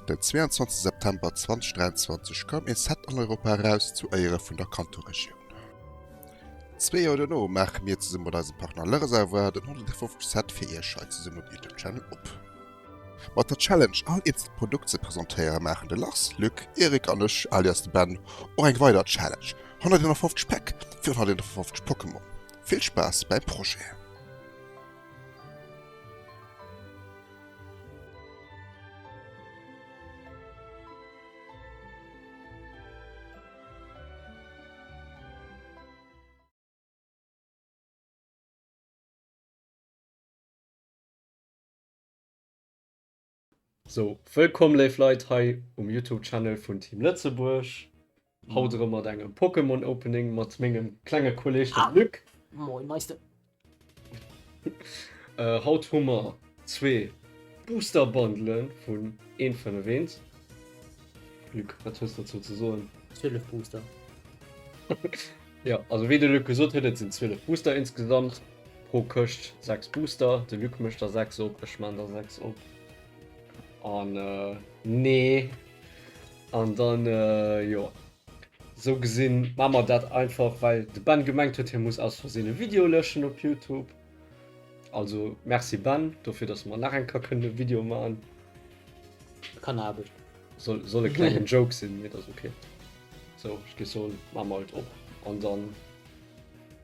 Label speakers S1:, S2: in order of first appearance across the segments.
S1: Den 22 September 2023 koum ee Set an Europa eraus zu Éiere vun der Kanto-Regioun. Zwee Joer dono maache mir zesumme mat eisem Partner Le Reservoir den 150. Set fir iech hei zesumme op YouTube-Channel op. Mat der Challenge all eenzel Produkt ze presentéieren maachen de Lars, Luc, Eric an ech, alias de Ben, och eng weider Challenge, 151 Päck fir 151 Pokémon. Vill Spaass beim Projet!
S2: So, wëllkomm léif Leit hei um Youtube Channel vun Team Lëtzebuerg. Haut erëm mat engem Pokémon Opening mat mengem klenge Kolleg dem Luc. Moin Meister. Haut hu mer zwee Booster Bundelen vun een vun ewéint. Luc, wat hues dozou ze soen? 12 Booster. Jo, also wéi de Luc gesot huet, et sinn 12 Booster insgesamt. Pro Këscht 6 Booster. De Luc mécht der 6 op. Ech man der 6 op. An äh, nee. An dann, äh, jo. So gesinn ma mer dat einfach, well de Ben gemengt huet, hie muss aus Versinn e Video lëschen op Youtube. Also merci Ben, dofir dass mer nach eng Kéier kënnen e Video man.
S3: Kann Aarbecht. Soll, soll e klengen
S2: Joke sinn, mee dat ass ok. So, ech gi soen, ma mer et op. An dann.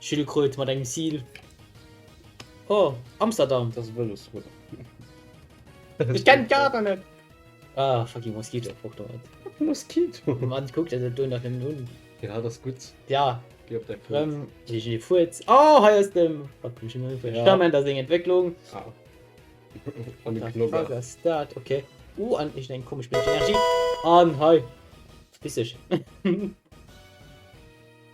S3: Schildkröt mat engem Seal. Oh, Amsterdam. Das Vëlosbrot. Ech kenn d'Kader net. Ah, fucking Moskito. Fuck do net. Moskito? Man
S2: kuckt dat do
S3: nach nëmmen un. Ja, dat ass gutt.
S2: Ja. Gee op däi
S3: Fuerz. Rëm.
S2: Gee ech ee Fuerz.
S3: Oh, hei ass dem. Wat komm ech elo fir e Stament a seng Entwécklung? Ah.
S2: An dem Knobber. Wat ass dat?
S3: Ok. Uh, an ech eng komesch Bierg Energie. An hei. Verpiss dech.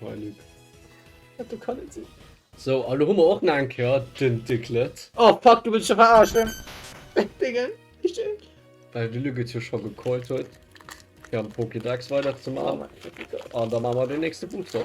S3: Hei
S2: Luc.
S3: Dat do kann net sinn. So, a lo hu mer
S2: och nach eng Kéier den Diglett. Oh fuck, du wëlls mech
S3: verarschen. Dingen, ech dinn. Well de Luc
S2: et jo scho gecallt huet, fir am Pokédex weiderzemaachen. An da maache mer den nächste Booster.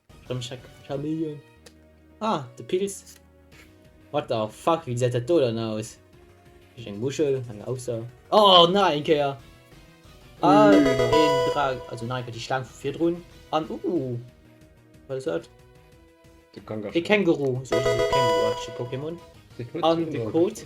S3: Komm check Camille. Ah, de Pilz. What the fuck, wie seet dat do dann aus? Ech eng Muschel, eng Auxer. Oh nein, eng Kéier. Ah, den Drag, also nein, die Schlang vu vir drun. An, uh, wat ass dat?
S2: De Kangaru. De Känguru, so
S3: ass e känguruartege Pokémon. An de Kot.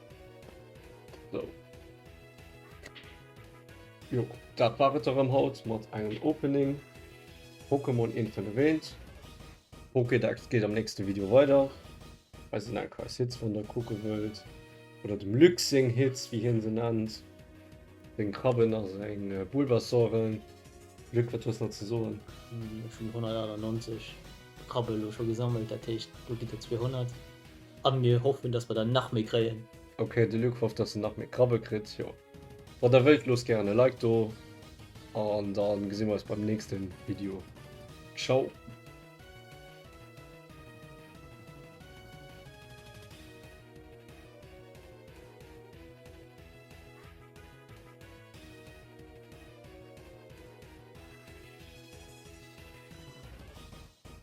S2: So. Jo, dat war et erëm haut mat engem Opening. Pokémon Intel erwähnt. Pokédex geht am nächsten Video weiter. Weiß ich nicht, was Hits von der gucken wollt. Oder dem Luxing Hits, wie hin sie nennt. Den Krabben aus den äh, Bulbasauren. Glück, was hast du noch zu sagen? Hm, schon
S3: 198 Krabbel schon gesammelt, das heißt, du geht 200. An mir hoffen dass mer der nach méi kréien. Ok
S2: de Luke hofft dass en nach méi Krabbe kritt jo. Wann der wëllt loosst gären e Like do an dann gesi mer eis beim nächsten Video. Ciao.